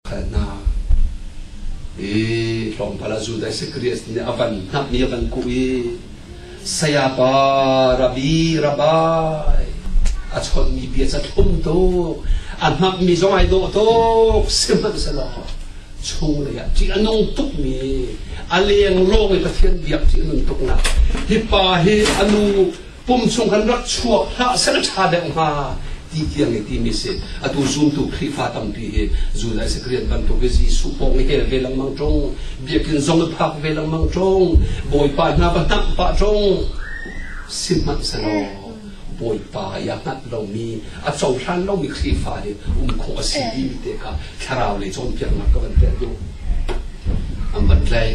khal hna i tlawmpal ah Judas Christ nih a van hnahmi a van kuh i sayapa rabi rabai a chawnmi bia cu thlum tuk a hnamhmi zong ai dawh tuk sihmanhsehlaw chung lei ah ṭih a nung tukmi a leng lawng i Pathian biak ṭih a nung tuknak hi pa hi a nu pum chung kan rak chuak hlah seh ṭha deuh hnga ti tiang i timi si atu zumtu khrihfa tampi hi zunai sekrian bantuk i jesuh pawng i hel ve lengmang ṭung biakin zong i phak ve lengmang ṭung bawipa hna va hnamh pah ṭung sihmanhselaw bawipa i a hngat lomi a cohlan lomi khrihfa hi um khawh a si timi te kha thlarau lei cawnpiaknak ka van pek duh an van tlai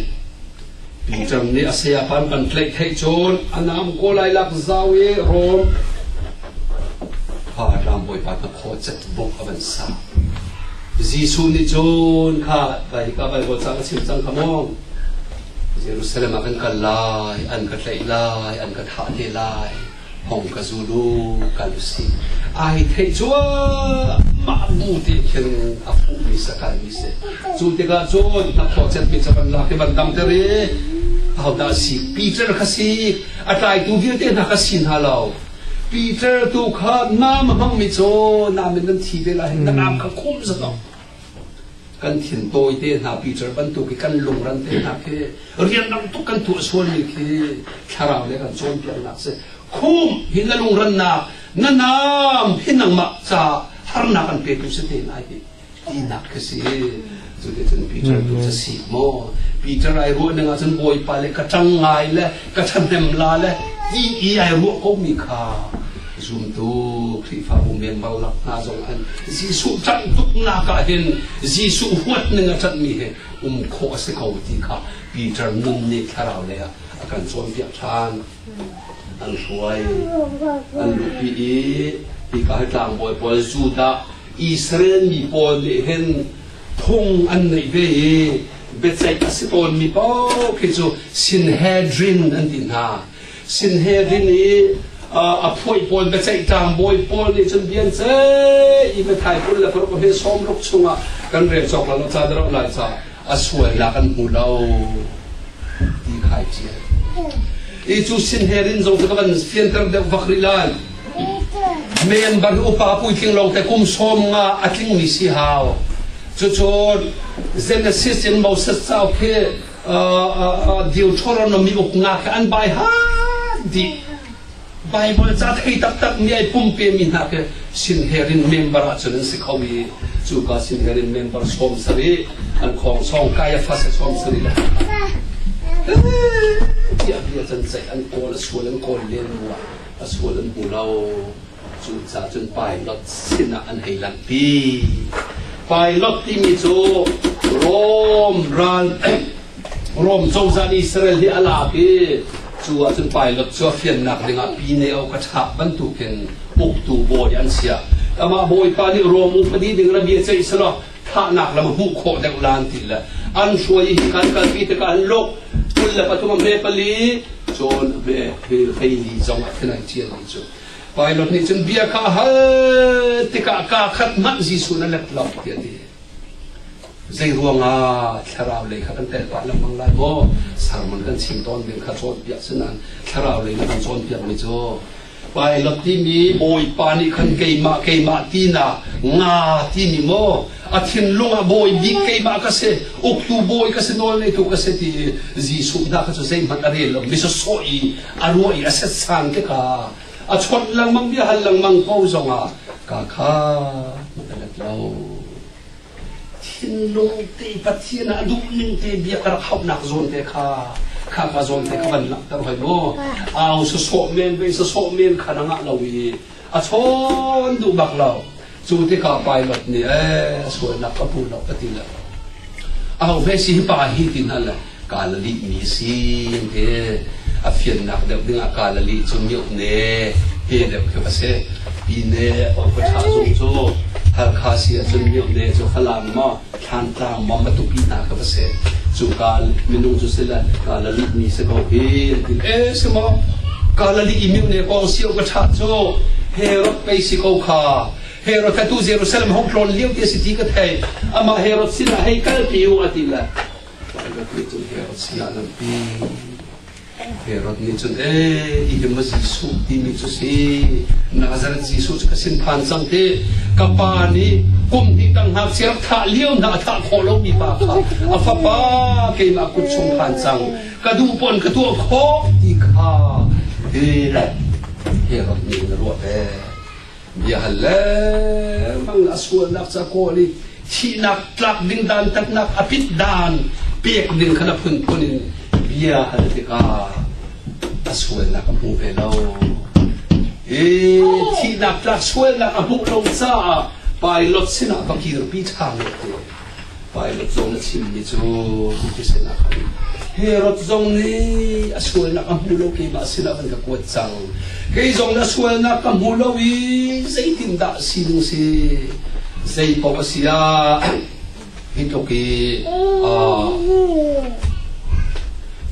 Peter nih a saya khan an tlaihtheih cun a nam ko lai lak zau i Rom pa rangbawipa hna khuacet buk a van sa. Jesuh nih cun kha vai ka vai ho cang a chim cang kha mong Jerusalem ah kan kal lai an ka tlaih lai an ka thah te lai hong ka zul u kal u si ai theih cuahmah bu ti khin a fuhmi sakalmi si cu tikah cun a khawcetmi ca van lak i van dam ter i ahodah si Peter kha si a tlaitu vialte hna kha si hna lo Peter tu kha nam a hmangmi cu nam in nan thi ve lai hin ka nam kha khum zat kan thil tawite hna picture bantuk i kan lungran te hna khi rianrang tuk kan tuah sualmi khi thlarau le kan cawnpiaknak si khum hi na lungrannak na nam hi nangmah ca harnak an petu si te ai ti tinak ka si cu ti cun Peter tu ca si mo Peter ai ruah ning ahcun Bawipa le ka tang ngai le ka thahnem la le ti i ai ruah komi kha zumtu Khrihfabu membal lak hna zong an Jesuh ṭanh tuknak ah hin Jesuh huatning a ṭanhmi he um khawh a si ko ti kha Peter nun nih thlarau lei ah a kan cawnpiak ṭhan an hruai an lupi i hika hi tlangbawi pawl Judah Israel mi pawl nih hin phung an neih ve i biaceih a si tawnmi paoh khi cu Sinhedrin an ti hna. Sinhedrin i a phuai pawl biaceih tlangbawi pawl nih cun bian ceih i Mathai kul le paruk he sawm ruk chungah kan rel cawk lo ca da lo lai ca a sualnak an hmu lo ti khai cia. I cu Sinhedrin zong cu ka van fianter deuh vak rih lai. Men bari upa puitling lo te kum som nga a tling mi si hau cucu Genesis in Moses ca khi Deuteronomy uk nga ka an bai ha di Bible ca thei tak tak mi ai pumpe mi hna ke sin herin member a chun si kho mi cu ka sin herin member som sari an khong song Caiaphas som sari la ti a bia chan chai an kawl a sual an kawl le nuwa a sual an hmu lo. Cucaah cun Pilot sinah an hei langhpi. Pilot timi cu Rom ral Rom cozah Israel hi a lak i cu ah cun Pilot cu a fiannak dingah Pineo ka chap bantukin uktu bawi an sia. Amah Bawipa nih Rom upadi ding rabia ceih selaw thahnak lam hmuh khawh deuh lan ti le an hruai hi kan kalpi tikah an lok kul le pathum a hme pali cun a hme hei li zong a khenai ṭial ni cu Pilot nih cun bia kha hal tikah ka khat manh Jesu na lep lo ti a ti zei ruangah thlarau lei kha kan tel pah lengmang lai maw sermon kan chim tawn ning kha cawn piak sunan thlarau lei na kan cawn piak mi cu Pilot timi Bawipa nih khan keimah keimah tinak nga timi maw a thinlung ah bawi bik keimah ka si uktu bawi ka si nawl ngeitu ka si ti Jesuh hna kha cu zeihmanh a rel lo misa sawh i a ruah i a setsan te ka a chawnh lengmang bia hal lengmang ko zongah ka kha a let lo thinlung ti Pathian ah duh ning te bia ka rak hauhnak zawn te kha khaka zawn te kha van langhter hoi mu au sa sawh men ve sa sawh men kha na ngah lo i a chawn duh bak lo cu ti ka pilot nih eh sualnak ka pu lo ka ti le au ve si pa hi ti hna le kaa la lihmi sin hi a fiannak deuh dingah kaa la lih cu mioh ne te deuh cu a si pi ne awkawtha zung cu Halkha si ahcun mioh ne cu falang maw thlangtlang maw matupi hna ka va se cu ka minung cu sila ka la lih mi si ko hi ti eh si maw ka la lih i mioh ne kong sio ka tha cu Herod pei si ko kha Herod kha tu Jerusalem hong tlon lio ti si ti ka thei ama Herod sinah hei kal pi u a ti le Pilot nih cun Herod sinah a lampi. Herod nih cun ee i ma Jesuh timi cu si Nazareth Jesuh cu ka sin phan cang te ka pa nih kum hnih tang ngakchia thah lio hna a thah khawh lomi pa kha a fapa keimah kut chung phan cang ka duh pon ka tuah khawh ti kha Herod nih na ruah ve Biahal lengmang a sualnak ca kawl i thihnak tlak ding dantatnak a pit dan pek ding kha na phunphun in bia hal tikah a sualnak a hmu ve lo. E thihnak tlak sualnak a hmuh lo caah Pilot sinah va kirpi ṭhan ti. Pilat zong a chimmi cu biakhiahnak ah Herod zong nih a sualnak a hmu lo keimah sinah van ka kuat cang kei zong na sualnak ka hmu lo i zeitindah sinung si zei paoh a si ah hi tluk i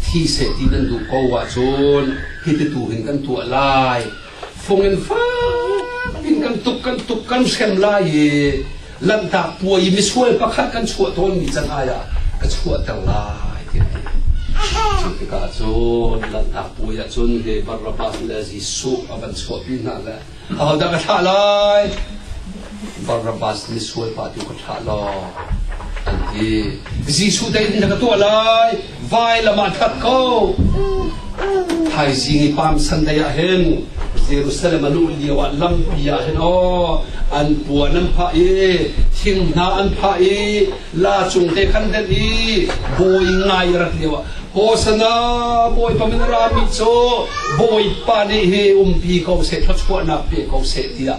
thi seh ti nan duh ko ahcun hiti tu hin kan tuah lai Fongin fakin kan tuk kan tuk kan hrem lai i lanhtak puai misual pakhat kan chuah tawnmi canai ah ka chuahter lai tiah cu tikah cun lanhtak puai ah cun he Barnabas le Jesuh a van chuahpi hna le ahodah ka thlah lai Barnabas misual pa tu ka thlah law an ti Jesuh dai in na ka tuah lai vailam ah khat ko thaizing i pam sunday ah hin jerusalem alu lio ah lampi ah hin aw an puan an phah i thingna an phah i la cung te khan den i bawi ngai rat lio ah hosana bawipa min rami cu bawipa nih hi umpi ko se thluachuahnak pe ko se tiah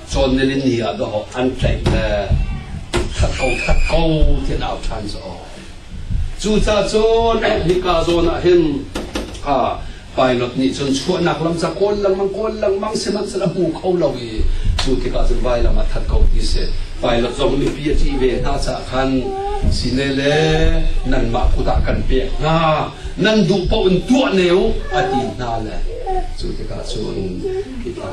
Cawn le ni ah dawh an tlaih le khat ko khat ko ti an au ṭhan cu aw. Cucacun hika zawn ah hin ha pilot nih cun chuahnak lam cu kawl lengmang kawl lengmang sihmanhsehlaw a hmu kho lo i cu tikah cun vailam ah that ko ti si pilot zong mipi a ṭih ve hna caah khan sine le nanmah kut ah kan pek hna nan duh paoh in tuah ne u a ti hna le cu tikah cun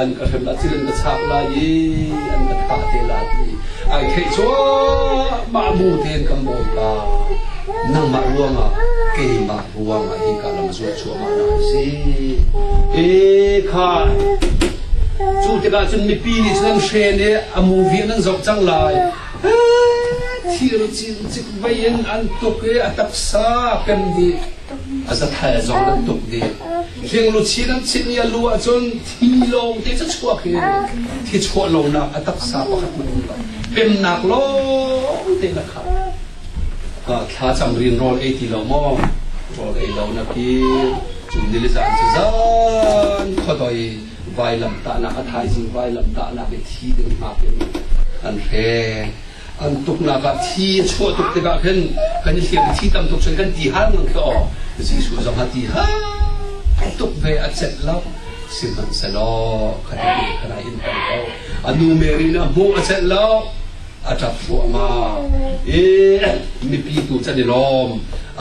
an ka hrem ah cilin ka chak lai i an ka thah te la ti ai theih cuahmah bu tein kan bawipa nangmah ruangah keimah ruangah hi ka lam zuah cuahmah na si e khai cu tikah cun mipi nih cun an hren i a movie an zoh cang lai thil cin cik vei in an tuk i a taksa kan nih A zathail zong an tuk dih. Hringluchi nan chinh i a lu ahcun thi lawng te cu chuak hi thi chuah lonak a taksa pakhat na um lo. Pemnak lawng te na khat. Thla cang rin rawl ei ti lo maw? Rawl ei lo na pi. Cun nili zan cu zan khodoi vailam tahnak a thaizing vailam tahnak i thi ding hngak in an hre. an tuknak ah thi a chuah tuk tikah khin kan i hliam thi tam tuk cun kan ti han ngang ka aw Jesuh zong a ti ha tuk ve a cet lo sihmanhsehlaw ka ti kana in kan ko a nu Mary na hmuh a cet lo a ṭap thluahmah e mipi tu chan i lawm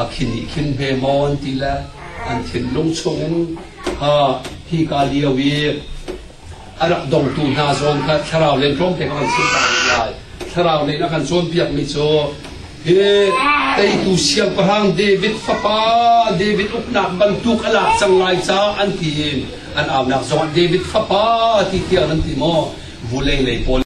a khin i khin hme mon ti le an thinlung chungin ha hi ka lio i a rak dongtu hna zong kha thlarau lei tlawm pek kan si lai. Thlarau lei a kan cawnpiakmi cu hi teitu siangpahrang David fapa David uknak bantuk a lak cang lai ca an ti in an aunak zong ah David fapa ti tiang nan ti maw vulei lei pawl